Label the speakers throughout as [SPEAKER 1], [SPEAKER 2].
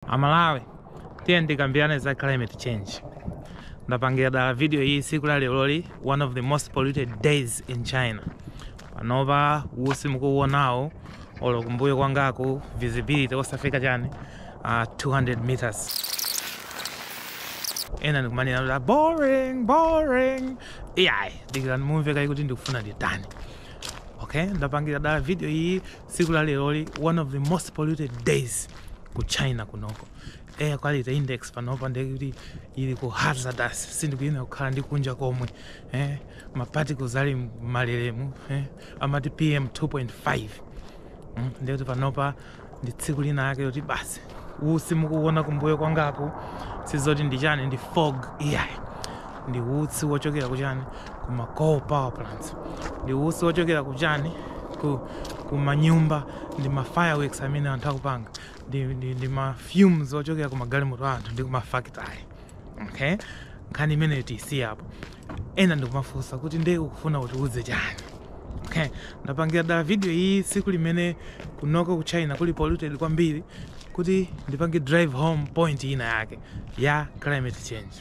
[SPEAKER 1] amalawi tiyeni tikambirane za climate change ndapangira dala video iyi tsiku la leroli one of the most polluted days in china panopa usi mukuuonawo olo kumbuyo kwangaku visibility osafika chani uh, 200 meters ena ndi kumanena kuti "Ah, boring boring iyayi dikirani mumve kayi kuti ndikufuna nditani okay ndapangira dala video iyi tsiku la leroli one of the most polluted days ku china kunoko air quality index panopa ndekuti ili ku hazardous sindikuyenera kukhala ndi kunja komwe eh, maparticles ali mmalelemu eh, amati pm 2.5 mm, ndekuti panopa ndi tsiku lina lake loti basi utsi mukuwona kumbuyo kwangaku si zoti ndi chani ndi fog iyayi ndi utsi wochokera kuchani ku ma coal power plants ndi utsi wochokera kuchani ku, ku manyumba ndi ma fireworks amene anthu akupanga ndi, ndi, ndi ma fumes ochokera ku magalimoto a anthu ndi ku mafactory okay nkhani imeneyo tiyisiyapo ena ndi kumafunsa kuti nde ukufuna kutiuze chani okay. ndapangira dala video iyi tsiku limene kunoko ku china kuli polluted kwambiri kuti ndipange drive home point ina yake ya climate change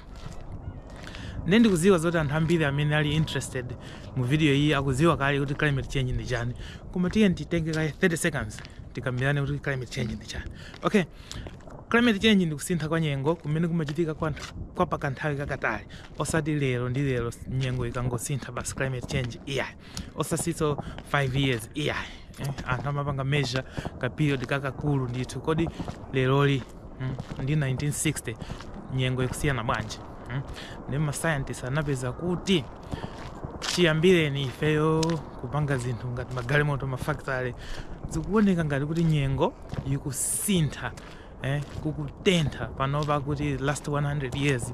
[SPEAKER 1] nde ndikuziwa zoti anthu ambiri amene ali interested mu video iyi akuziwa kale kuti climate change ndi chani koma tiyeni titenge kaye 30 seconds tikambirane kuti climate change ndi chani okay climate change ndi kusintha kwa nyengo kumene kumachitika kwa, kwa pakanthawi kakatali osati lero ndi lero nyengo ikangosintha basi climate change iyayi osatinso 5 years iyayi eh, anthu amapanga measure ka period kakakulu ndithu kodi leroli mm, ndi 1960 nyengo ikusiyana bwanji mm? ndi mascientist anapeza kuti chiyambireni ifeyo kupanga zinthu ngati magalimoto mafactory zikuoneka ngati kuti nyengo ikusintha eh, kukutentha panopa akuti last 100 years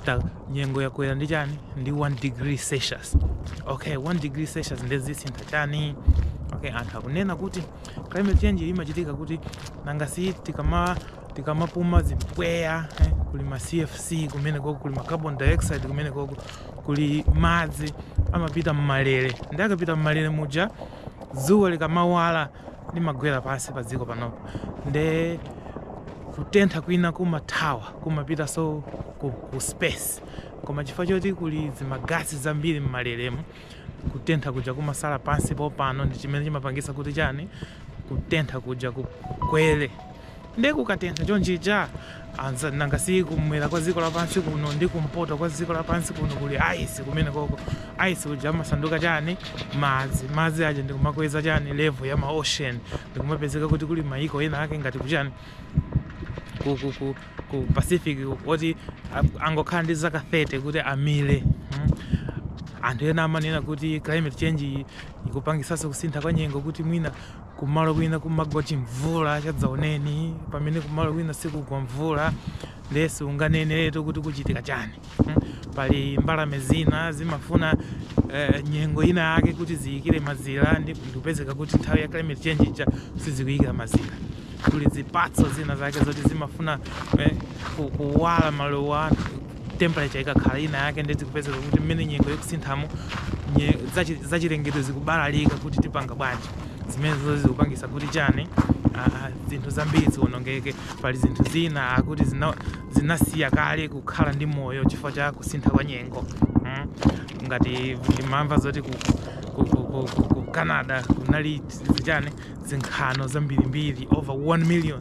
[SPEAKER 1] ta nyengo yakwera ndi chani ndi 1 degree celsius okay 1 degree celsius nde zisintha chani okay anthu akunena kuti climate change imachitika kuti nanga si tikama tikamapuma zimpweya eh, kuli ma cfc kumene koko kuli ma carbon dioxide kumene koko kuli madzi amapita mmalere nde akapita mmalere muja dzuwa likamawala limagwera pansi pa dziko panopa nde kutentha kwina kumathawa kumapitanso ku, ku space koma chifukwa choti kuli zimagasi zambiri mmalelemu kutentha kuja kumasala pansi pompano ndi chimene chimapangisa kuti chani kutentha kuja kukwere Nde kukatentha chonchija? Nanga si kum'mwera kwa dziko lapansi kuno ndi kumpoto kwa dziko lapansi kuno kuli ice kumenekoko. Ice uja amasanduka chani? Madzi. Madzi aja ndi kumakweza chani? Level ya ma ocean. Ndi kumapezeka kuti kuli mayiko ena ake ngati ku chani? Ku, ku, ku, ku Pacific uku, oti a- angokhala ndi zaka 30 kuti amire. Hmm? anthu ena amanena kuti climate change iyi ikupangitsanso kusintha kwa nyengo kuti mwina Kumalo kwina kumagwa chimvula chadzaoneni pamene kumalo kwina sikugwa mvula ndiye siunganeneretu kuti kuchitika chani. Pali mbalame zina zimafuna eh, nyengo ina yake kuti ziyikire mazira ndikupezeka kuti nthawi ya climate change ija sizikuyikira mazira. Kuli zipatso zina zake zoti zimafuna eh, kuwala maluwa awo temperature ikakhala ina yake ndiye zikupezeka kuti mmene nyengo ikusinthamo nye- zachi- zachilengedwe zikubalalika kuti tipanga bwanji zimenezizo zikupangisa kuti chani ah, zinthu zambiri zionongeke pali zinthu zina akuti zina- zinasiya kale kukhala ndi moyo chifukwa cha kusintha kwa nyengo mm. ngati ndimamva zoti ku, ku, ku, ku, ku, ku canada kunali chani zinkhano zambirimbiri over 1 million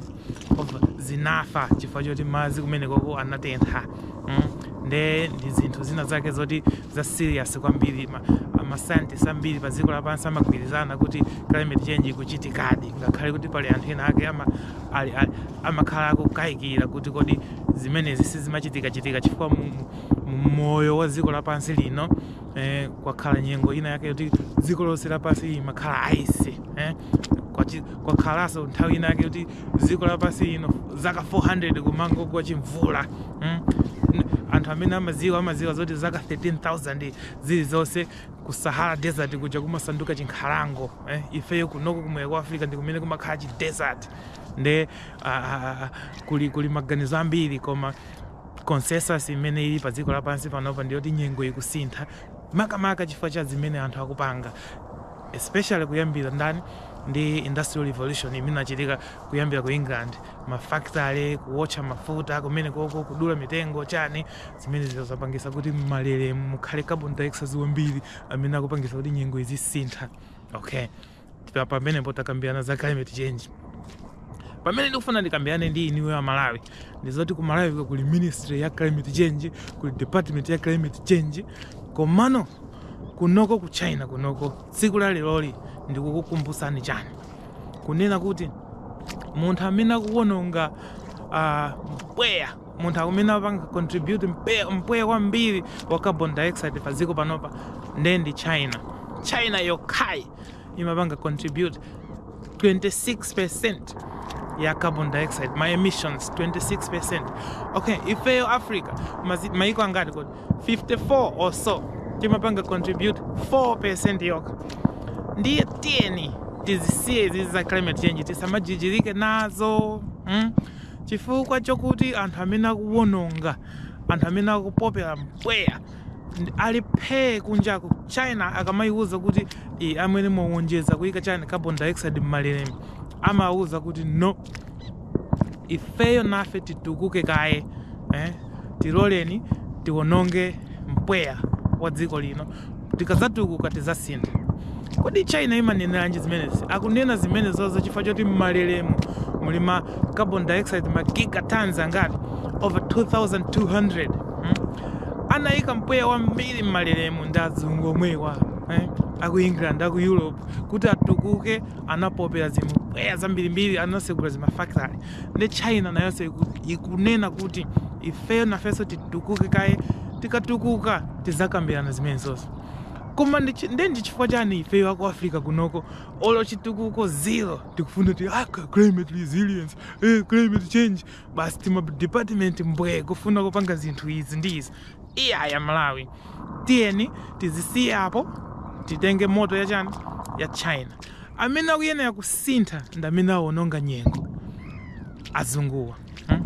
[SPEAKER 1] zinafa chifukwa choti madzi kumenekoko anatentha mm. nde ndi zinthu zina zake zoti za serious kwambiri ma, mascientist ambiri pa dziko lapansi amagwirizana kuti climate change ikuchitikadi ngakhale kuti pali anthu ena ake ama, ali, ali, amakhala akukayikira kuti kodi zimenezi sizimachitika chitika chifukwa mu, mu moyo wa dziko lapansi lino eh, kwakhala nyengo ina yake yoti dziko lonse lapansi imakhala ice eh? kwakhalanso nthawi ina yake yoti dziko lapansi ino zaka 400 kumangogwa chimvula hmm? anthu amene amaziwa amaziwa zoti zaka 13000 zili zonse ku sahara desert kuja kumasanduka chinkhalango eh? ifeyo kunoko kumwera kwa africa ndi kumene kumakhala chi desert nde uh, kuli, kuli maganizo ambiri koma Consensus imene ili pa dziko lapansi panopa ndi yoti nyengo ikusintha makamaka chifukwa cha zimene anthu akupanga especially kuyambira ndani ndi industrial revolution imene inachitika kuyambira ku England mafactory kuwotcha mafuta kumenekoko kudula mitengo chani zimenezizo zapangisa kuti m'malere mukhale carbon dioxide wambiri amene akupangisa kuti nyengo izisintha okay Tita pamenepo takambirana za climate change. Pamene ndikufuna ndikambirane ndi inuyo a Malawi ndi zoti ku Malawi kuno kuli ministry ya climate change, kuli department ya climate change. Komano kunoko ku China kunoko tsiku la leroli ndikukukumbutsani chani kunena kuti munthu amene akuwononga ah, mpweya munthu amene akupanga contribute mpe- mpweya kwambiri wa carbon dioxide pa dziko panopa ndiye ndi china china yokhayi imapanga contribute 26% ya carbon dioxide ma emissions 26% okay ifeyo africa mazi- maiko angati kodi 54 or so timapanga contribute 4% yokha ndiye tiyeni tizisiye izizi za climate change tisamajijirike nazo mm? Chifukwa chakuti anthu amene akuwononga, anthu amene akupopera mpweya ali phee kunjaku, China akamaiuza kuti e, amwene mwawonjeza kuika chani carbon dioxide m'malelemu, amawauza kuti no, ifeyo nafe titukuke kaye eh? tiloleni tiwononge mpweya wa dziko lino tikazatukuka tizasintha kodi china imaneneranji zimenezi akunena zimenezozo chifukwa choti mmalelemu muli ma carbon dioxide ma gigatons angati over 2200 hmm? anayika mpweya wambiri mmalelemu ndi azungu omwewa eh? aku england aku europe kuti atukuke anapopera zimpweya zambirimbiri anasegula zimafactory ndi china nayonso iku- ikunena kuti ifeyo nafenso titukuke kaye tikatukuka tizakambirana zimenezozo koma ndi chi- nde ndi chifukwa chani ifeyo aku africa kunoko olo chitukuko zero tikufuna kuti ah, climate resilience eh, climate change basi tima department mbwe kufuna kupanga zinthu izi ndi izi iyaya malawi tiyeni tizisiye apo titenge motto ya chani ya china amene akuyenera kusintha ndi amene awononga nyengo azunguwa hmm?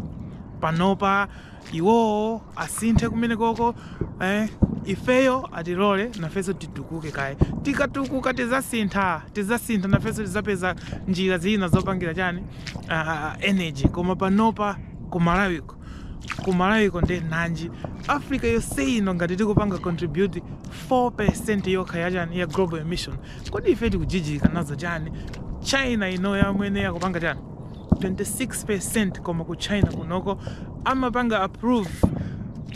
[SPEAKER 1] panopa iwowo asinthe kumenekoko eh, ifeyo atilole nafenso titukuke kaye tikatukuka tizasintha tizasintha nafenso tizapeza njira zina zopangira chani uh, energy koma panopa ku malawi ku malawiko nde nanji africa yonse ino ngati tikupanga contribute 4% yokha yachani ya global emission kodi ife tikujijirika nazo chani china ino yamwene yakupanga chani 26% koma ku china kunoko amapanga approve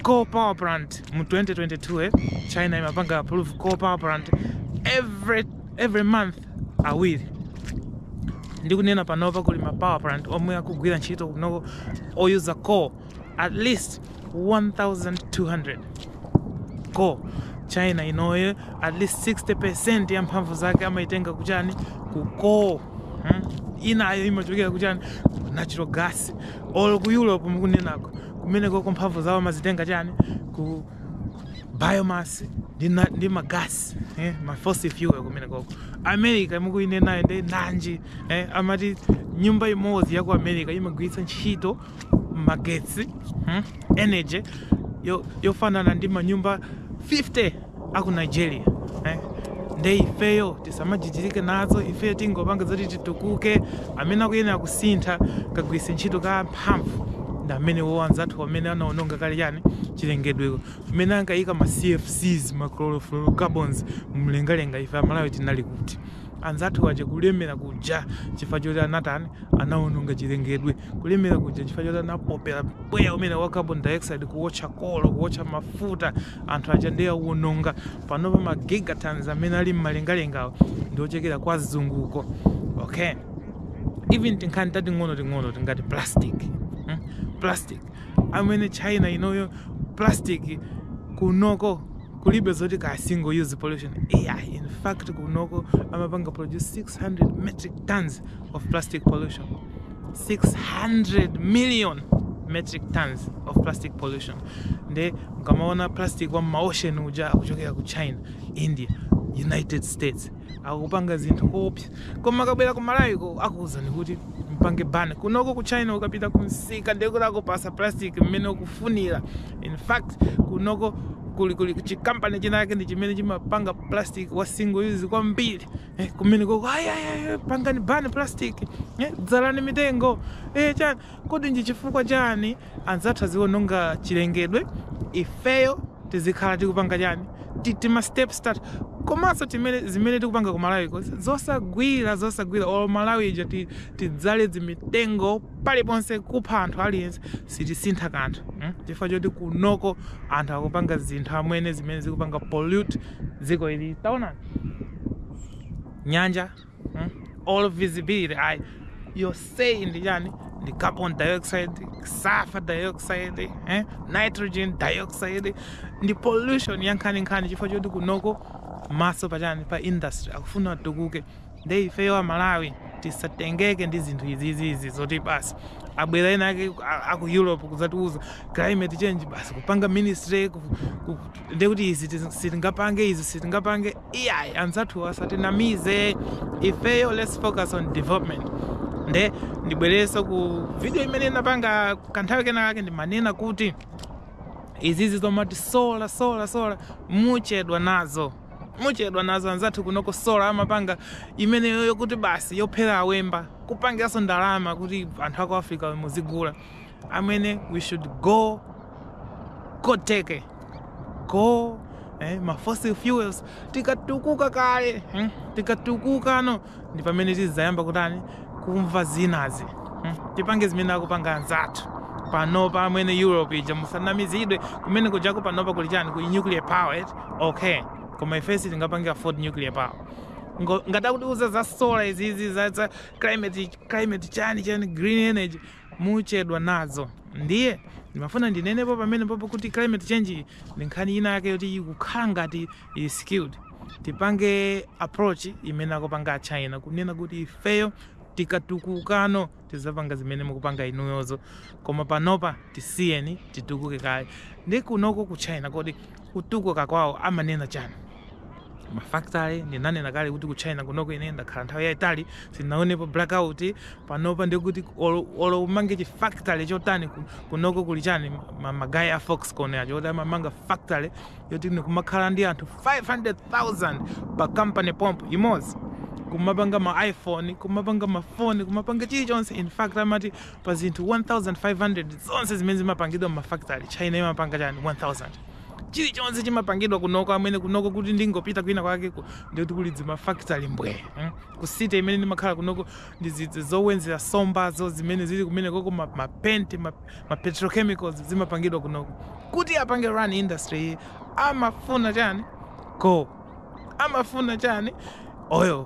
[SPEAKER 1] coal power plant mu 2022 eh? china imapanga approve coal power plant every every month awiri ndikunena panopa kuli ma power plant omwe akugwira ntchito kunoko oyuza coal at least 1200 coal china inoyo at least 60% ya mphamvu zake amaitenga kuchani ku coal hmm? inayo imachokera kuchani natural gas olo ku europe mukunenako kumenekoko mphamvu zawo amazitenga chani ku biomass ndi ma- ndi magasi eh, ma fossil fuel kumenekoko america imeneyo nde nanji eh, amati nyumba imodzi ya ku america imagwiritsa ntchito magetsi hmm, energy yo- yofanana ndi manyumba 50 aku nigeria eh. nde ifeyo tisamajijirike nazo ifeyo tingopange zoti titukuke amene akuyenera kusintha kagwiritse ntchito ka harmful ndi amenewo anzathu amene anaononga kale chani chilengedweko mmene ankayika ma cfcs ma chlorofluorocarbons mumlengalenga ife amalawi tinali kuti anzathu aja kulemera kuja chifukwa choti anatani anaononga chilengedwe kulemera kuja chifukwa choti anapopera mpweya umene wa carbon dioxide kuwotcha coal kuwotcha mafuta anthu aja ndiye awononga panopa ma gigatons amene ali mumlengalengawo ndi ochokera kwa azunguko okay even tinkhani tating'ono ting'ono tingati plastic hmm? plastic amwene china inoyo plastic kunoko kulibe zoti ka single use pollution ai in fact kunoko amapanga produce 600 metric tons of plastic pollution 600 million metric tons of plastic pollution nde mukamaona plastic wa mmaocean uja akuchokera ku china india united states akupanga zinthu koopsa koma akabwera ku malawiko akuuzani kuti mpange ban kunoko ku china ukapita ku msika ndekuti akupasa plastic mmene ukufunira in fact kunoko kuli kuli chikampani chinake ndi chimene chimapanga plastic wa single use kwambiri eh, kumenekoko ayayaya pangani ban plastic eh, dzalani mitengo eh, chani Kodi nchi chifukwa chani anzathu aziononga chilengedwe ifeyo tizikhala tikupanga chani ti tima steps tathu komaso timene zimene tikupanga ku Malawiko zosagwira zosagwira olo Malawi ija tidzale zimitengo paliponse kupha anthu aliyense sitisintha kanthu mm chifukwa choti kunoko anthu akupanga zinthu amwene zimene zikupanga pollute dziko ili taonani nyanja hmm? olo visibility ayi yonseyi ndi chani ndi carbon dioxide sulfur dioxide eh? nitrogen dioxide ndi pollution yankhaninkhani chifukwa choti kunoko maso pachani pa industry akufuna atukuke nde ifeyo amalawi tisatengeke ndi zinthu izizizi zoti basi abwera ena ake a- aku europe kuzatiuza climate change basi kupanga ministry ku- ku- ndekuti izi tizi- sitingapange izi sitingapange iyayi anzathuwo asatinamize ifeyo let's focus on development nde ndibwereso ku video imene ndinapanga kanthawi kena kake ndimanena kuti izizi zomati sola sola sola muchedwa nazo muchedwa nazo anzathu kunoko sola amapanga imeneyo yokuti basi yophera awemba kupangiranso ndalama kuti anthu aku africa muzigula amwene we should go koteke go eh, ma fossil fuels tikatukuka kale hmm? tikatukukano ndi pamene tizayamba kutani kumva zinazi hmm? tipange zimene akupanga anzathu panopa amwene europe ija musanamizidwe kumene kujako panopa kuli chani kuli nuclear power eti okay koma ifesi tingapange afford nuclear power Ngo- ngati akutiuza za solar izizi za, za climate, climate chani chani green energy muchedwa nazo ndiye ndimafuna ndinenepo pamenepopo kuti climate change iyi ndi nkhani ina yake yoti ikukhala ngati ili skewed tipange approach imene akupanga achina kunena kuti ifeyo tikatukukano tizapanga zimene mukupanga inuyozo koma panopa tisiyeni titukuke kaye ndi kunoko ku china kodi kutukuka kwawo amanena chani mafactory ndinanena kale kuti ku china kunoko ine ndakhala nthawi yayitali sindinaonepo blackout panopa ndikuti olo olo umange chi factory chotani ku- kunoko kuli chani ma- magayi a foxconn aja oti amamanga factory yoti ndikumakhala ndi anthu 500000 pa compound imodzi kumapanga ma iphone kumapanga mafoni kumapanga chilichonse in fact amati Pa zinthu 1,500 zonse zimene zimapangidwa m'mafakitale, China imapanga chani? 1,000. Chilichonse chimapangidwa kunoko amwene, kunoko kuti ndingopita kwina kwakeko ndiye kuti kuli zimafakitale mbwee. Ku city imene ndimakhala kunoko ndi zija zowedzera sombazo zimene zili kumenekoko, ma ma paint, ma ma petrochemicals zimapangidwa kunoko. Kuti apange run industry iyi amafuna chani? Coal. Amafuna chani? Oil.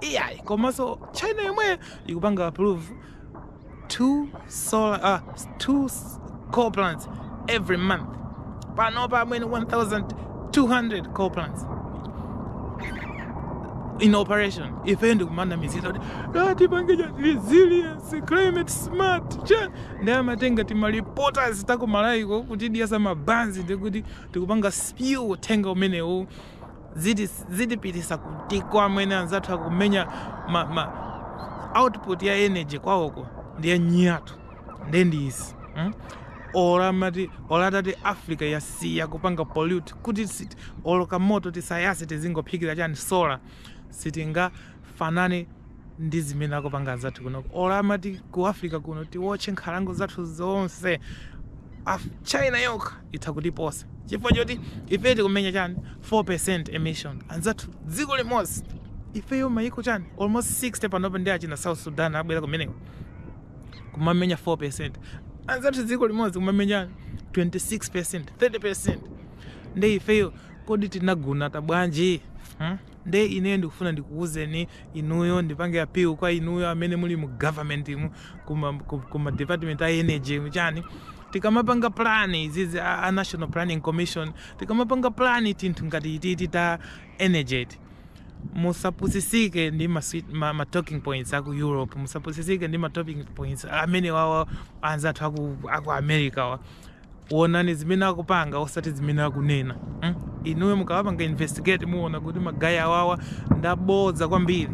[SPEAKER 1] iyayi komanso china yomweyo ikupanga approve two solar uh, two coal plants every month panopa amwene 1200 coal plants in operation ife ndikumanamizidwa kuti "Ah, tipange cha resilience climate smart chani amatenga timaripoters takumalayiko kutidiyetsa mabanzi ndikuti tikupanga spew uthenga umenewu ziti- zitipitisa kuti amwene anzathu akumenya ma, ma output ya energy kwawoko ndiye nyatu ndiye ndi izi mm? olo amati olo atati africa yasiya kupanga pollute kuti sit- olo kamoto tisayase tizingophikira chani sola sitinga fanane ndi zimene akupanga anzathu kunoko olo amati ku africa kuno tiwotche nkhalango zathu zonse Af china yokha itha kutiposa chifukwa choti ife tikumenya chani 4% emission anzathu dziko limodzi ifeyo mayiko chani almost 60 panopa ndi achina south sudan abwera kumeneko kumamenya 4% anzathu dziko limodzi kumamenya 26% 30% ndi ifeyo kodi tinagunata bwanji hmm? Nde ine ndikufuna ndikuuzeni inuyo ndipange appeal kwa inuyo amene muli mu government mu kuma, ku- kuma department a energy chani tikamapanga plan izizi a, a national planning commission tikamapanga plan tinthu ngati ititi ta energy iti musapusisike ndi ma, sweet- ma, ma talking points aku europe musapusisike ndi ma talking points amene wawa anzathu aku, aku america wa Wonani zimene akupanga osati zimene akunena mm? Inuyo mukawapanga investigate muwona kuti magayi awawa ndabodza kwambiri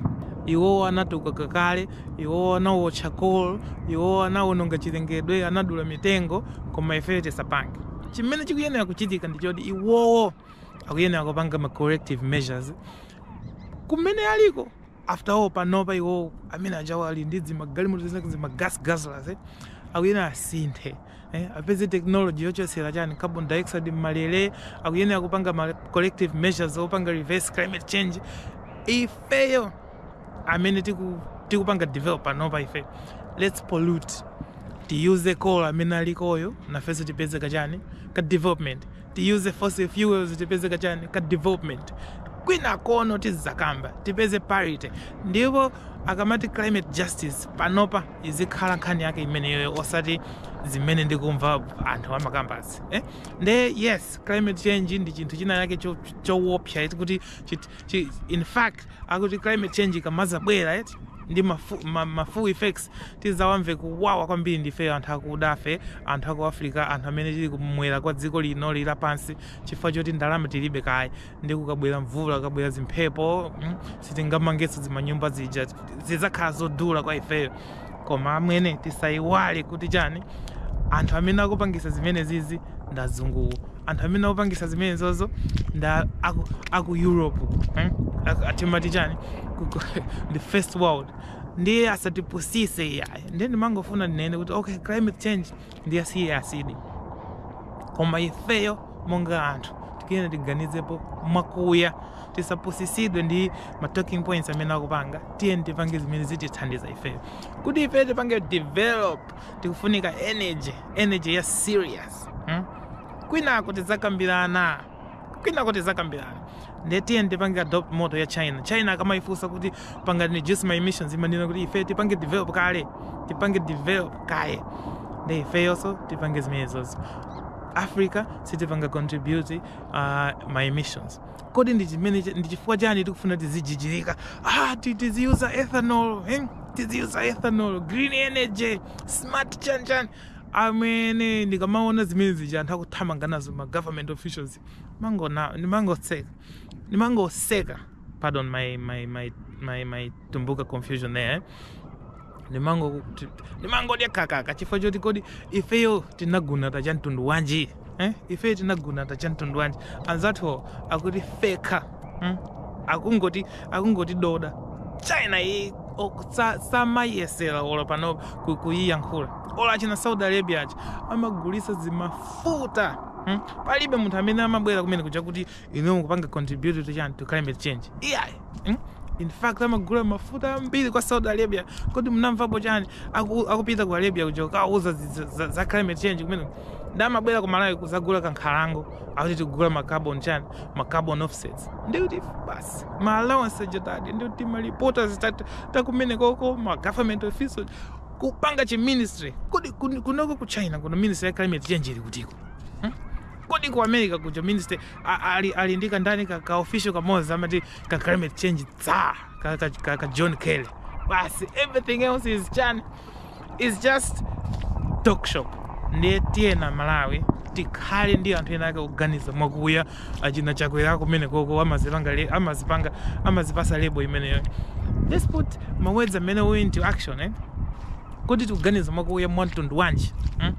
[SPEAKER 1] iwowo anatukuka kale iwowo anawotcha coal iwowo anawononga chilengedwe anadula mitengo koma ifeyo tisapange chimene chikuyenera kuchitika ndi choti iwowo akuyenera kupanga ma corrective measures kumene aliko after all panopa iwowo amene ajawo ali ndi dzimagalimoto zake dzimagas guzzlers eh? akuyenera asinthe eh, apeze technology yochotsera chani carbon dioxide mmalele akuyenera kupanga ma corrective measures opanga reverse climate change ifeyo amene tiku- tikupanga develop panopa ifeyo let's pollute tiyuze coal amene alikoyo nafenso tipeze kachani ka development Tiyuze fossil fuels tipeze ka chani ka development kwinako no tizakamba tipeze parity ndipo akamati climate justice panopa izikhala nkhani yake imeneyo osati zimene ndikumva anthu amakambazi eh? nde yes climate change ndi chinthu china yake cho- chowopsa cho kuti chit- Chi- in fact akuti climate change ikamazabwera eti ndi mafu- ma- mafu effects tizawamve kuwawa kwambiri ndifeyo anthu akudafe anthu aku africa anthu amene tili kumwera kwa dziko lino lila pansi chifukwa choti ndalama tilibe kaya ndi kukabwera mvula kukabwera zimphepo mm, sitingamangenso zimanyumba zija zizakhala zodula kwa ifeyo koma amwene tisayiwale kuti chani anthu amene akupangisa zimene zizi ndazunguwo anthu amene akupangisa zimene zozo nda aku, aku europe eh? atimati chani the first world ndiye asatipusise iyayi ndiye ndimangofuna ndinene kuti okay climate change ndi a serious issue koma ifeyo monga anthu tikuyenera tiganizepo mwakuya tisapusisidwe ndi ma talking points amene akupanga tiyeni tipange zimene zitithandiza ifeyo kuti ifeyo tipange develop tikufunika energy energy ya serious hmm? kwinako tidzakambirana kwinako tizakambirana nde tiyeni tipange adopt motto ya china china akamayifunsa kuti pangani reduce ma emissions imanena kuti ife tipange develop kale tipange develop kaye nde ifeyonso tipange zimenezozo africa sitipanga contribute uh, ma emissions kodi ndi chimene ndi chifukwa chani tikufuna tizijijirika ah, ti- tiziyuza ethanol eh? tiziyuza ethanol green energy smart chanichani Amwene ndikamaona zimene zija anthu akuthamanga nazo ma government officials ndimangona ndimangoseka ndimangoseka pardon my my my my my tumbuka confusion there eh? ndimango ndimangodya kakaka chifukwa choti kodi ifeyo tinagunata cha mtundu wanji eh? ife tinagunata cha mtundu wanji anzathu akuti fekha mm? akungoti akungoti doda china iyi samayesera olo pang'ono kuyiyankhula olo a china saudi arabia aja amagulisa zimafuta mm? palibe munthu amene amabwera kumene kuja kuti inu mukupanga contribute to chani to climate change iyayi mm? in fact amagula mafuta ambiri kwa saudi arabia kodi mnamvapo chani Aku- akupita ku arabia kuja kukauza zi- za- za- za climate change kumene nde amabwera ku malawi kuzagula kankhalango akuti tikugula macarbon chani macarbon offsets ndikuti basi maallowance ajatu ndikuti malipota zitatu takumene koko ma government officials kupanga chi ministry kodi kun- kunoko ku china kuno ministry ya climate change ili kutiko Kodi ku America kuja minister a- ali ali ndi ka ndani ka, ka official kamodzi amati ka climate change tsar ka, ka, ka, ka John Kerry. Basi everything else is chan is just talk shop. Ndiye tiyeni aMalawi tikhale ndi anthu ena ake oganiza mwakuya achina chakwera kumene koko amazipanga le- amazipanga amazipasa lebo imeneyo. Let's put mawords amene we into action eh. Kodi tikuganiza mwakuya mwa mtundu wanji? Hmm?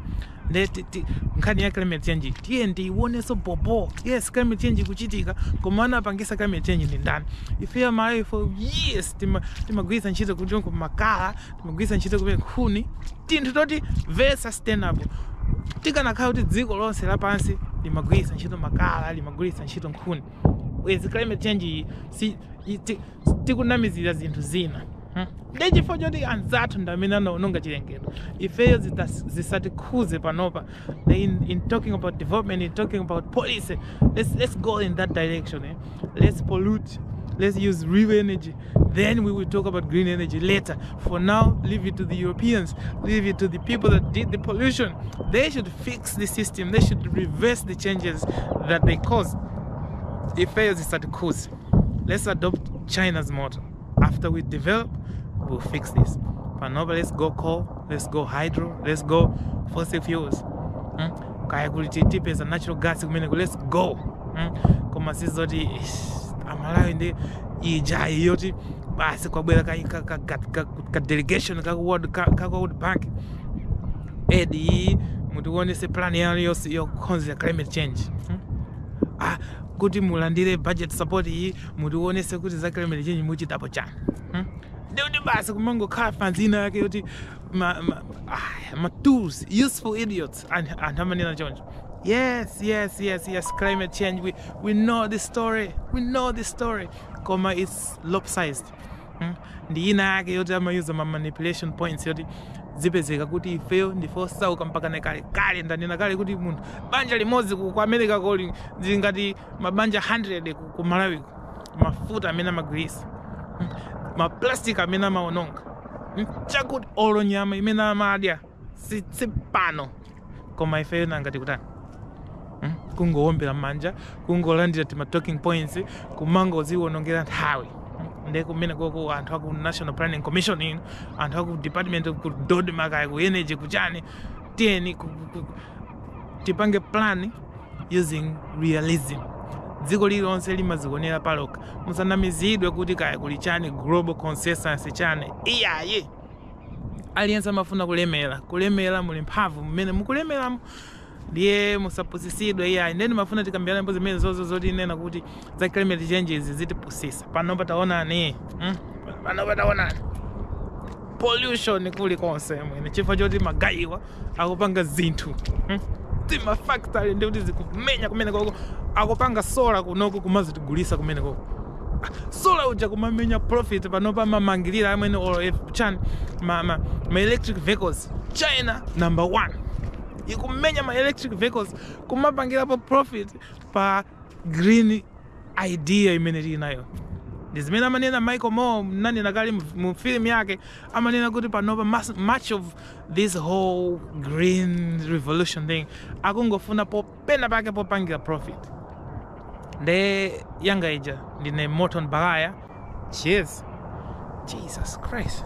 [SPEAKER 1] nde ti- ti- nkhani ya climate change tiyeni tiiwoneso bobo yes climate change ikuchitika koma anapangisa climate change ndi ndani ife amalawi for years tima- timagwiritsa ntchito timakala timagwiritsa ntchito tinkhuni tinthu toti very sustainable tikanakhala kuti dziko lonse lapansi limagwiritsa ntchito makala limagwiritsa ntchito nkhuni bwezi climate change iyi si i- ti- tikunamizira zinthu zina hmm. ndi chifukwa choti anzathu ndi amene anaononga chilengedwe ifeyo zisatikhuze panopa in, in talking about development in talking about policy let's, let's go in that direction eh? let's pollute let's use real energy then we will talk about green energy later for now leave it to the europeans leave it to the people that did the pollution they should fix the system they should reverse the changes that they caused if fails it's at cause let's adopt china's motor after we develop we'll fix this panopa let's go coal let's go hydro let's go fossil fuels hmm? kaya kuli tipeza natural gas kumeneko let's go hmm? koma sizoti amalawi ndi ija iyoti basi kwabwera ka, ka, ka, ka, ka, ka delegation ka world, ka, ka world bank edi iyi mutiwonese plan yanu yonse yokhonzera climate change hmm? ah, kuti mulandire budget support iyi mutiwonese kuti za climate change muchitapo chani hmm? ndi kuti basi kumangokhala fanzi ina yake yoti ma, ma, ah, ma tools useful idiots anthu anthu amanena choncho yes yes yes yes climate change we, we know this story we know this story koma it's lopsided Hmm? ndi ina yake yoti amayuza ngati manipulation points yoti zizipezeka kuti ifeyo ndife osauka mpaka nekale kale ndanena kale kuti munthu banja limodzi ku ku americako lili ngati mabanja 100 ku, ku malawiko mafuta amene amagwirisa maplastic amene amaononga chakuti olo nyama imene amadya si si pano koma ifeyo nanga tikutani Hmm? kungowombera manja kungolandira tima talking points kumangodziwonongera nthawi Hmm? nde kumeneko anthu aku national planning commission inu anthu aku department of- ku dodma kaya ku energy kuchani tiyeni ku- ku- ku- tipange plan using realism dziko lililonse limadzionera palokha musanamizidwe kuti kaya kuli chani global consensus chani iyayi aliyense amafuna kulemera kulemera muli mphamvu mmene mukulemeramo ndiye musapusisidwe iyayi nde ndimafuna tikambirane mbuzi zimenezozo zotinena kuti za climate changes zitipusisa panopa taonani mm? panopa taonani pollution kulikonse amwene chifukwa choti magayiwa akupanga zinthu hmm? timafactory ndi kuti zikumenya kumenekoko akupanga sola kunoko kumazatigulitsa kumenekoko sola uja kumamenya profit panopa amamangirira amwene olof chan ma, ma, ma electric vehicles china number one ikumenya ma electric vehicles kumapangirapo profit pa green idea imene tili nayo ndi zimene amanena michael moore ndanena kale mu- mu film yake amanena kuti panopa mas- much of this whole green revolution thing akungofuna po pena pake popangira profit nde yanga ija ndine morton baghaya cheers jesus christ